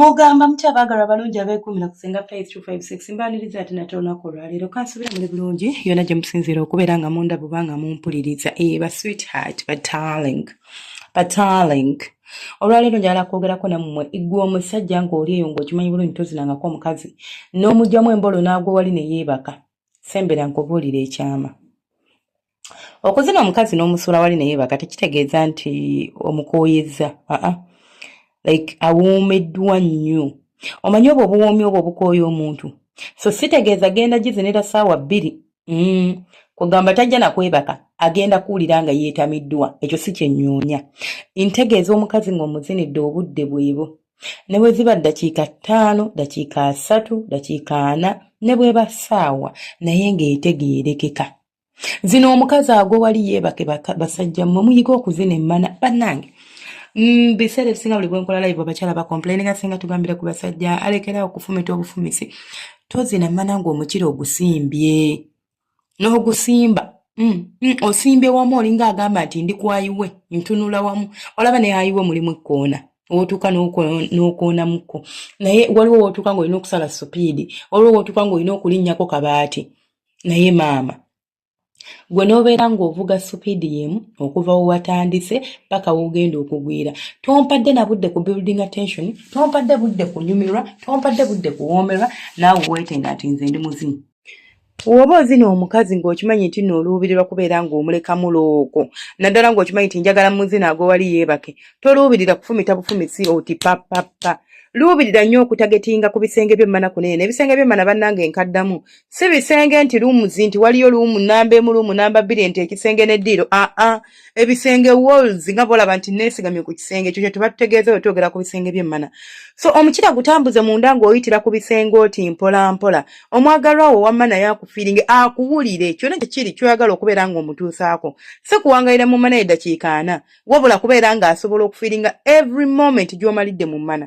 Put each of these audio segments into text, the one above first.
mugamba mutya abaagalwa abalungi abeekuumira ku singa faith 256 mbaaniriza ati nate olunaku olwaleero kansubira muli bulungi yona gye musinziira okubeera nga munda bubanga mumpuliriza eba eh, sweetheart batarling batarling ba olwaleero njagala kwogerako nammwe gwe omusajja ng'oli eyo ng'okimanyi bulungi tozinangako omukazi n'omugyamu embolo n'agwa wali ne yeebaka sembera nkubuulira ekyama okuzina omukazi n'omusuula wali ne yeebaka tekitegeeza nti omukooyezza aa like awoomeddwa nnyo omanyi obwo obuwoomi obwo obukooya omuntu so sitegeeza genda gizinira saawa bbiri mm. kugamba tajja nakwebaka agenda kuwulira nga yeetamiddwa ekyo si kyenyuunya ntegeeza omukazi ng'omuzinidde obudde bwebo ne bwe ziba ddakiika ttaano ddakiika asatu ddakiika ana ne bweba ssaawa naye ng'etegeerekeka zino omukazi agwo wali yeebake basajja mmwe muyiga okuzina emmana bannange mbiseera mm, ebisinga buli bwenkola live abakyala bacomplaininga singa tugambira ku basajja alekerawo okufumita obufumisi tozina mana nga omukira ogusimbye n'ogusimba mm, mm, osimbye wamu olinga agamba nti ndi kwayiwe ntunula wamu olaba naye ayiwe mulimu ekkoona wotuuka n'okoonamuko naye waliwo wotuuka nga olina okusala supiidi waliwo wotuuka nga olina okulinnyako kabaati naye maama gwe n'obeera ng'ovuga supiidi yemu okuva we watandise paka wogenda okugwira tompadde na budde ku building attention tompadde budde kunyumirwa tompadde budde kuwoomerwa naawe weetenga nti nze ndi muzimu woba ozina omukazi ng'okimanyi nti no oluubirirwa kubeera ng'omulekamu loogo naddala ng'okimanyi nti njagala muzina agowali yeebake toluubirira kufumita bufumisi oti papapa luubirira nnyo okutagetinga ku bisenge by'emmana kunene ebisenge by'emmana bannanga enkaddamu si bisenge nti rooms nti waliyo luumu namba emu luumu namba bbiri nti ekisenge ne diiro aa ah, ah. ebisenge walls nga bolaba nti neesigamye ku kisenge ekyo kyetuba tutegeeza we twogera ku bisenge byemmana so omukira gutambuze munda ng'oyitira ku bisenge oti mpolampola omwagalwa wo wamma naye akufiiringe akuwulire kyona kyekiri kyoyagala okubeera ng'omutuusaako si kuwangalira mu mana edakiika ana wabula kubeera ng'asobola okufiiringa every moment gy'omalidde mu mana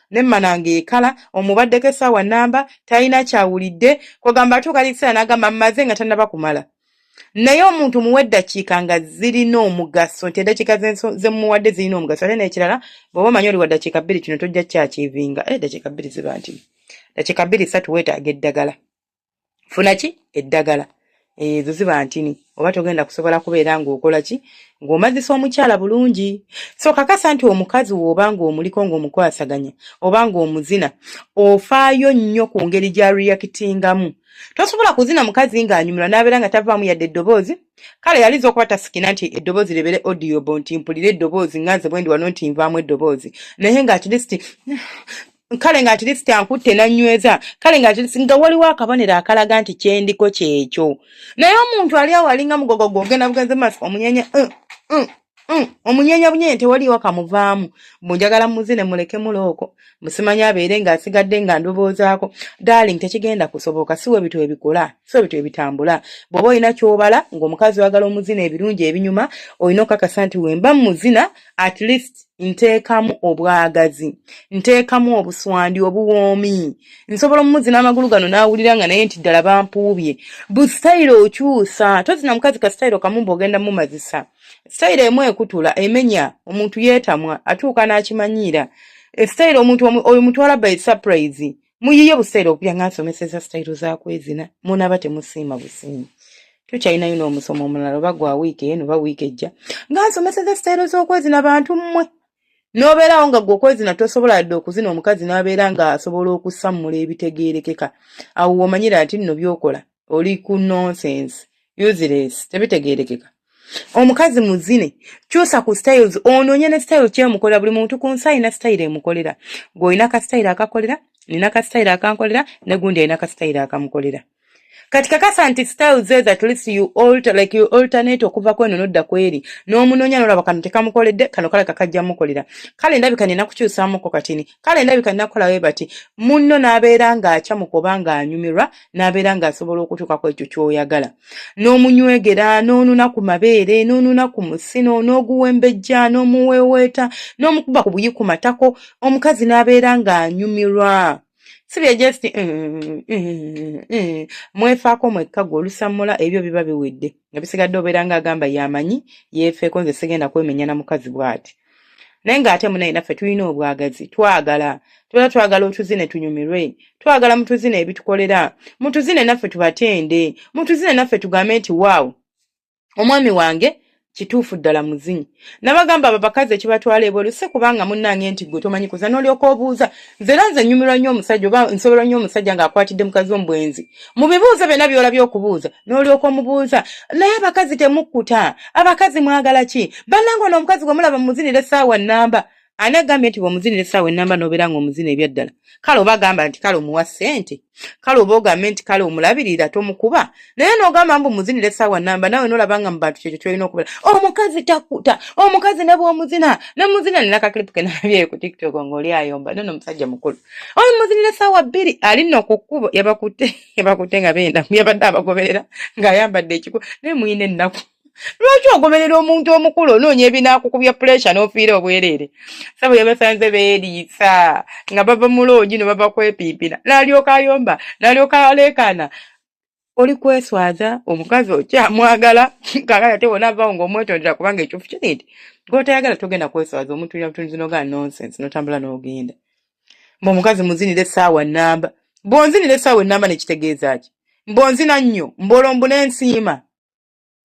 ne mananga ekala omubaddeko essaawa namba talina kyawulidde kwegamba atuuka ekiseera n'agamba mmaze nga tannaba kumala naye omuntu muwa eddakiika nga zirina omugaso nti eddakiika zemuwadde zirina omugaso ate n'ekirala bw'oba omanyi oli wa ddakiika bbiri kino tojja kyakiivinga eh, eddakiika bbiri ziba nti ddakiika bbiri satu weetaaga eddagala funa ki eddagala ezo eh, ziba ntini oba togenda kusobola kubeera ng'okola ki ng'omazisa omukyala bulungi so kakasa nti omukazi wooba ng'omuliko ng'omukwasaganya oba ng'omuzina ofaayo nnyo ku ngeri gya reyakitingamu tosobola kuzina mukazi ng'anyumirwa n'abeera nga tavaamu yadde eddoboozi kale yaliza okuba tasikina nti eddoboozi lebere odiobo nti mpulire eddoboozi nganze bwendi wano nti nvaamu eddoboozi naye nga at least kale nga atleast ankutte nanyweza kale nga atleast nga waliwo akabonero akalaga nti kyendiko kyekyo naye omuntu ali awo alinga mugogo gwogenda bugenze maaso omunyenya uh, uh, uh, omunyenya bunyenye tewaliwo kamuvaamu munjagala muzi ne muleke mulooko musimanya abeere nga asigadde nga ndoboozaako darling tekigenda kusoboka si webitu ebikola si webitu ebitambula bwoba olina kyobala ngaomukazi wagala omuzina ebirungi ebinyuma olina okakasa nti wemba muzina at least nteekamu obwagazi nteekamu obuswandi obuwoomi nsobola omumuzina amagulu gano n'awulira nga naye nti ddala bampuubye bu sitayiro okyusa tozina mukazi ka sitayiro kamumba ogenda mumazisa sitayiro emu ekutula emenya omuntu yeetamwa atuuka n'akimanyiira esitayiro omuntu oyo mutwala by surprise muyiye buseera okubya nga nsomeseza sitayiro zakwezina munaba temusiima busiima tukyalinayo n'omusomo omulala oba gwa wiiki eno oba wiiki ejja nga nsomeseza sitayiro z'okwezina bantu mmwe n'obeerawo nga gwe okwezina tosobola yadde okuzina omukazi n'abeera ng'asobola okusammula ebitegeerekeka awo womanyira nti nno byokola oli ku nonsense useless tebitegerekeka omukazi muzine kyusa ku styles ononye ne style kyemukolera buli muntu ku nsi alina style emukolera gwe olina ka style akakolera nina ka style akankolera ne gundi alina ka style akamukolera kati kakasa nti style zeez at least you alter like you alternate okuva kweno nodda kweri n'omunonya nolaba kano tekamukoledde kano kale kakajja mukolera kale ndabika nina kukyusamuko katini kale ndabika nina kukola bwe bati munno n'abeera ng'acamuka oba ng'anyumirwa n'abeera ng'asobola okutuuka ku ekyo ky'oyagala n'omunywegera n'onuna ku mabeere n'onuna ku musino n'oguwembejja n'omuweeweeta n'omukuba ku buyi ku matako omukazi n'abeera ng'anyumirwa sibye just eh, eh, eh, mwefaako mwekka gwe olusammula ebyo biba biwedde nga bisigadde obeera ng'agamba yamanyi yeefeeko nze sigenda kwemenyana mukazi bw'ati naye ng'ate munaye naffe tulina obwagazi twagala tubeera twagala otuzine tunyumirwe twagala mutuzine ebitukolera mutuzine naffe tubatende mutuzine naffe tugambe nti waawo omwami wange kituufu ddala muzinyi nabagamba abo bakazi ekibatwala ebweru si kubanga munnange nti gwe tomanyi kuza n'olyoka obuuza nze era nze nyumirwa nnyo omusajja oba nsobola nnyo omusajja ng'akwatidde mukazi omubwenzi mu bibuuzo byonna by'olabye okubuuza n'olyoka omubuuza naye abakazi temukkuta abakazi mwagala ki bannanga ono omukazi gwe mulaba mumuzinira essaawa nnamba ani agambye nti bw'omuzinira essaawa ennamba n'obeera ng'omuzina ebyaddala kale oba gamba nti kale omuwa ssente kale oba ogambe nti kale omulabirira tomukuba naye nogamba mbu muzinira esaawa namba nawe nolaba nga mubantu kyekyo kyolina okubera omukazi takuta omukazi ne bwomuzina ne muzina nina kakilipu kenabyeyo ku tiktok ngaoli ayomba nono omusajja mukulu oyo muzinira esaawa bbiri ali no ku kkubo yabakutte yabakutte nga benda yabadde abagoberera ng'ayambadde ekiku naye muyina ennaku lwaki ogoberera omuntu omukulu onoonya ebinaakukubya puleesha n'ofiira obwereere sabo yabasanze beeriisa nga bava mu loogi no bava kwepiipira n'alyoka ayomba n'alyoka aleekaana oli kweswaza omukazi okyamwagala kakati ate wona avawo ng'omwetondera kubanga ekyofu kiri nti gw'otayagala togenda kweswaza omuntu ina butunzi nogaa nonsense notambula n'ogenda mbu omukazi muzinira essaawa nnamba bw'onzinira essaawa ennamba nekitegeeza ki mbw'onzina nnyo mbw'olwo mbunensiima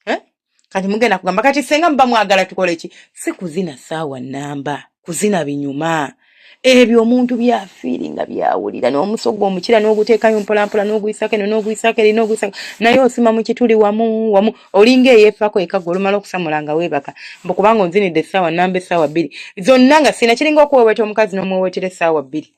eh? kati mugenda kugamba kati senga muba mwagala tukole ki si kuzina saawa namba kuzina binyuma ebyo omuntu byafiiri nga byawulira n'omusogo omukira n'oguteekayo mpolampola n'oguyisako eno n'oguyisako eri n'oguyisako naye osima mu kituli wamu wamu olinga eyeefako ekaga olumala okusamula nga weebaka mbu kubanga onzinidde essaawa namba essaawa bbiri zonna nga sina kiringa okuweweta omukazi n'omuwewetera essaawa bbiri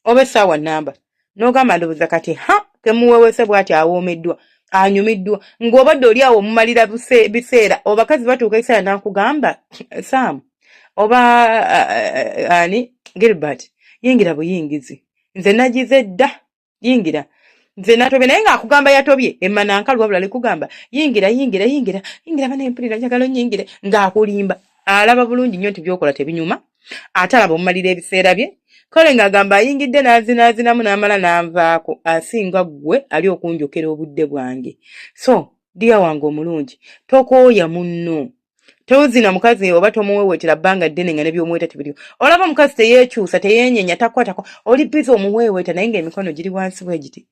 oba essaawa namba n'ogamba ndowooza kati ha kemuwewese bwati awoomeddwa anyumiddwa ng'obadde oli awo omumalira biseera obakazi batuuka ekiseera n'akugamba sam oba ani gilbert yingira buyingizi nze nagize dda yingira nze natobye naye ng'akugamba yatobye emananka lwabula likugamba yingira yingira yingira yingira bana empulira njagala onyingire ng'akulimba alaba bulungi nnyo nti byokola tebinyuma ate alaba omumalira ebiseera bye kale ng'agamba ayingidde n'azinaazinamu n'amala n'anvaako asinga ggwe ali okunjokera obudde bwange so diya wange omulungi tokooya munno tozina mukazi oba tomuwewetera bbanga ddene nga nebyomuweta tebiriwo olaba omukazi teyekyusa teyenyenya takwatako oli biza omuweweta naye nga emikono giri wansi bwegiti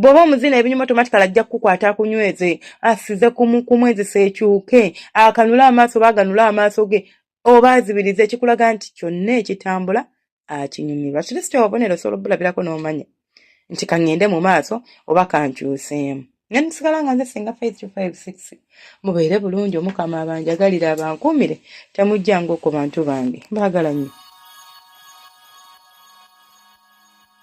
bw'oba omuzina ebinyuma tomatikala ajja kukukwata akunyweze asize kumwezisa ekyuke akanule amaaso oba aganule amaaso ge oba azibiriza ekikulaga nti kyonna ekitambula akinyumirwa kiri si kyobubonero osobola obulabirako n'omanya nti kaŋŋende mu maaso oba kankyuseemu nga nsigala nga nze singa faith to five six mubeere bulungi omukama abanjagalire abankuumire temujjanga oku bantu bange baagala nnyo